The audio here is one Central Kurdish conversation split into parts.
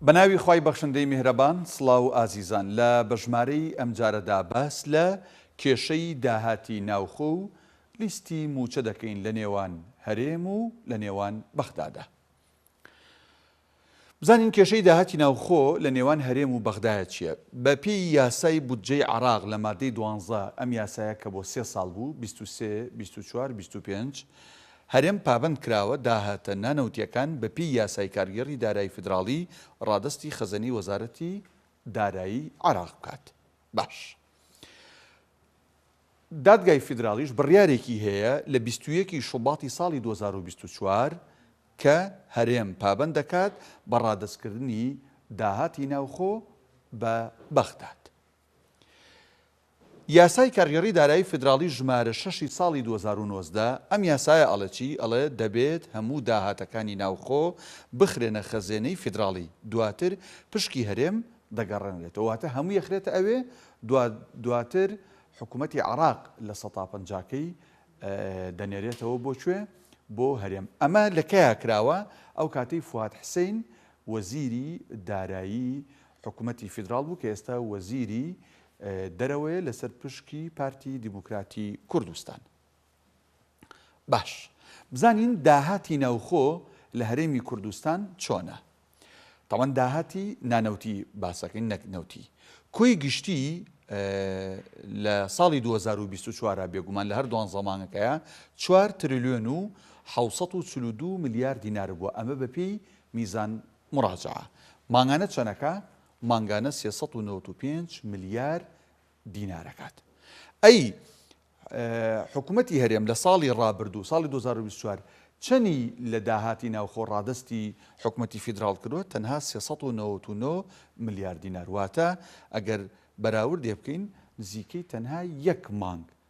بە ناوی خوای بەخشندەی میهرەبان سڵاو ئازیزان لە بە ژمارەی ئەمجارەدا باس لە کێشەی داهاتی ناوخۆ و لیستی مووچە دەکەین لە نێوان هەرێم و لە نێوان بەغدادا بزانین کێشەی داهاتی ناوخۆ لە نێوان هەرێم و بەغدایە چییە بە پێی یاسای بودجەی عراق لە مادەی دوانزە ئەم یاسایە کە بۆ سێ ساڵ بوو بیست و سێ بیست و چوار بیست و پێنج هەرێم پابەند کراوە داهاتە نانەوتییەکان بە پێی یاسای کارگێڕی دارایی فیدراڵی ڕادەستی خەزەنەی وەزارەتی دارایی عێراق بکات. باش. دادگای فیدراڵیش بڕیارێکی هەیە لە بیست و یەک ی شوباتی ساڵی دوو هەزار و بیست و چوار کە هەرێم پابەند دەکات بە ڕادەستکردنی داهاتی ناوخۆ بە بەغداد. یاسای کارگێڕی دارایی فیدراڵی ژمارە شەش ی ساڵی دوو هەزار و نۆزدە، ئەم یاسایە ئەڵێ چی؟ ئەڵێ دەبێت هەموو داهاتەکانی ناوخۆ بخرێنە خەزێنەی فیدراڵی، دواتر پشکی هەرێم دەگەڕێنرێتەوە، واتە هەمووی ئەخرێتە ئەوێ، دواتر حکومەتی عێراق لە سەتا پەنجاکەی دەنێرێتەوە بۆ کوێ؟ بۆ هەرێم. ئەمە لە کەیا کراوە؟ ئەو کاتەی فواد حسین وەزیری دارایی حکومەتی فیدراڵ بوو کە ئێستا وەزیری دەرەوەیە لەسەر پشکی پارتی دیموکراتی کوردستان. باش بزانین داهاتی ناوخۆ لە هەرێمی کوردستان چۆنە؟ تاوان داهاتی نانەوتی باسەکەین نەک نەوتی کۆی گشتی لە ساڵی 2024 بێگومان لە هەر دوان زەمانەکەیە 4 تریلیۆن و 1942 ملیار دینار بووە ئەمە بەپێی میزان مراجعە مانگانە چەند ئەکا؟ مانگانە سێ سەد و نەوەد و پێنج ملیار دینار ئەکات ئەی حکومەتی هەرێم لە ساڵی ڕابردوو ساڵی 2024 چەنی لە داهاتی ناوخۆ ڕادستی حکومەتی فیدراڵ کردوە تەنها 399 ملیار دینار واتە ئەگەر بەراوردێ بکەین نزیکەی تەنها یەک مانگ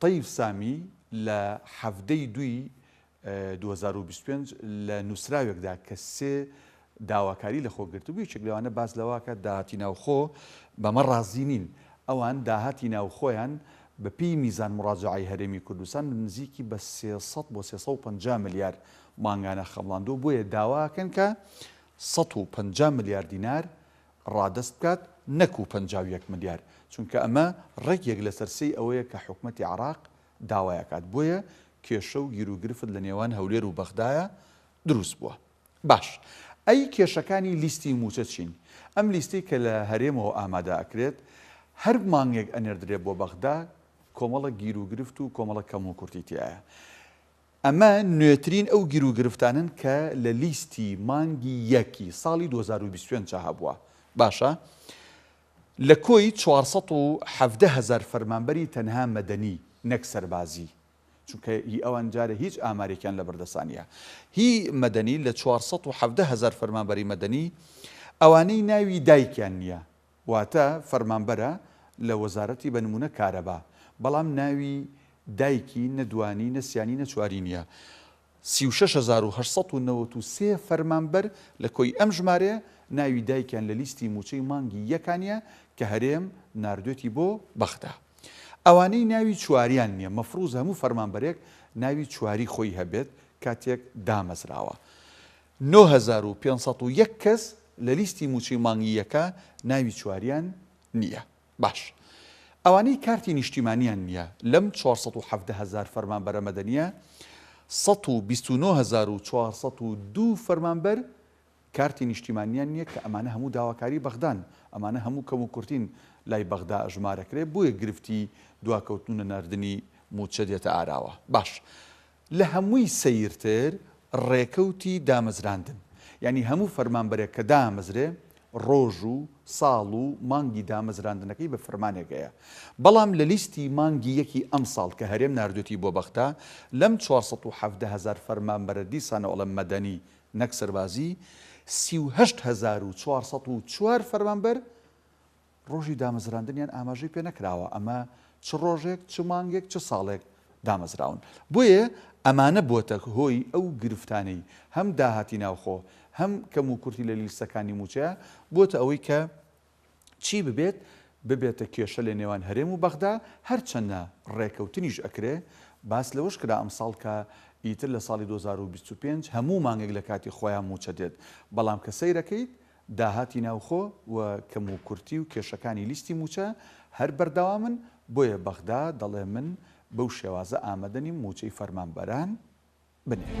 تەیف سامی لە حەڤدە ی دووی دوو هەزار و بیست و پێنج لە نووسراوێکدا کە سێ داواکاری لەخۆ گرتبوو، یەکێک لەوانە باس لەوە ئەکات داهاتی ناوخۆ بەمە ڕازی نین، ئەوان داهاتی ناوخۆیان بەپێی میزان موڕاجەعەی هەرێمی کوردستان نزیکی بە سێ سەد بۆ سێ سەد و پەنجا ملیار مانگانە خەمڵاندووە، بۆیە داوا ئەکەن کە سەد و پەنجا ملیار دینار ڕادەست بکات نەکو پەنجا و یەک ملیار، چونکە ئەمە ڕێک یەک لەسەر سێی ئەوەیە کە حکومەتی عێراق داوای ئەکات، بۆیە کێشە و گیروگرفت لە نێوان هەولێر و بەغدایە دروست بووە. باش ئەی کێشەکانی لیستی مووچە چین؟ ئەم لیستەی کە لە هەرێمەوە ئامادە ئەکرێت هەر مانگێک ئەنێردرێت بۆ بەغدا کۆمەڵە گیروگرفت و کۆمەڵە کەموکورتی تیایە، ئەمە نوێترین ئەو گیروگرفتانەن کە لە لیستی مانگی یەک ی ساڵی دوو هەزار و بیست و پێنج دا هەبووە. باشە لە کۆی چوار سەد و حەڤدە هەزار فەرمانبەری تەنها مەدەنی نەک سەربازی، چونکە هی ئەوان جارێ هیچ ئامارێکیان لە بەردەستا نیە، هی مەدەنی لە چوار سەد و حەڤدە هەزار فەرمانبەری مەدەنی ئەوانەی ناوی دایکیان نیە واتە فەرمانبەرە لە وەزارەتی بە نمونە کارەبا بەڵام ناوی دایکی نە دوانی نە سیانی نە چواری نیە سی و شەش هەزار و هەشت سەد و نەوەد و سێ فەرمانبەر لە کۆی ئەم ژمارەیە ناوی دایکیان لە لیستی موچەی مانگی یەکا نیە کە هەرێم ناردوێتی بۆ بەغدا ئەوانەی ناوی چواریان نیە مەفروزە هەموو فەرمانبەرێک ناوی چواری خۆی هەبێت کاتێک دامەزراوە نۆ هەزار و پێنج سەد و یەک کەس لە لیستی مووچەی مانگی یەکە ناوی چواریان نییە. باش ئەوانەی کارتی نیشتیمانیان نییە لەم چوار سەد و حەڤدە هەزار فەرمانبەرە مەدەنییە سەد و بیست و نۆ هەزار و چوار سەد و دوو فەرمانبەر کارتی نیشتیمانیان نییە کە ئەمانە هەموو داواکاری بەغدان ئەمانە هەموو کەم و کورتین لای بەغدا ژمارەکرێ بۆیە گرفتی دواکەوتن و نەناردنی مووچە دێتە ئاراوە. باش لە هەمووی سەیرتر ڕێکەوتی دامەزراندن، یانی هەموو فەرمانبەرێک کە دامەزرێ ڕۆژ و ساڵ و مانگی دامەزراندنەکەی بە فرمانێک هەیە، بەڵام لە لیستی مانگی یەکی ئەمساڵ کە هەرێم ناردوێتی بۆ بەغدا لەم چوار سەد و حەڤدە هەزار فەرمانبەرە دیسانەوە ئەڵێم مەدەنی نەک سەربازی سی و هەشت هەزار و چوار سەد و چوار فەرمانبەر ڕۆژی دامەزراندنیان ئاماژەی پێ نەکراوە، ئەمە چ ڕۆژێک، چ مانگێک، چ ساڵێک دامەزراون. بۆیە ئەمانە بووەتە هۆی ئەو گرفتانەی هەم داهاتی ناوخۆ، هەم کەموکورتی لە لیستەکانی مووچەیە، بووەتە ئەوەی کە چی ببێت، ببێتە کێشە لە نێوان هەرێم و بەغدا، هەرچەندە ڕێکەوتنیش ئەکرێ. باس لەوەش کرا ئەمساڵ کە ئیتر لە ساڵی دوو هەزار و بیست و پێنج هەموو مانگێک لە کاتی خۆیان مووچە دێت، بەڵام کە سەیرەکەیت داهاتی ناوخۆ و کەموکورتی و کێشەکانی لیستی مووچە هەر بەردەوامن، بۆیە بەغدا دەڵێ من بەو شێوازە ئامەدە نیم مووچەی فەرمانبەران بنێرم.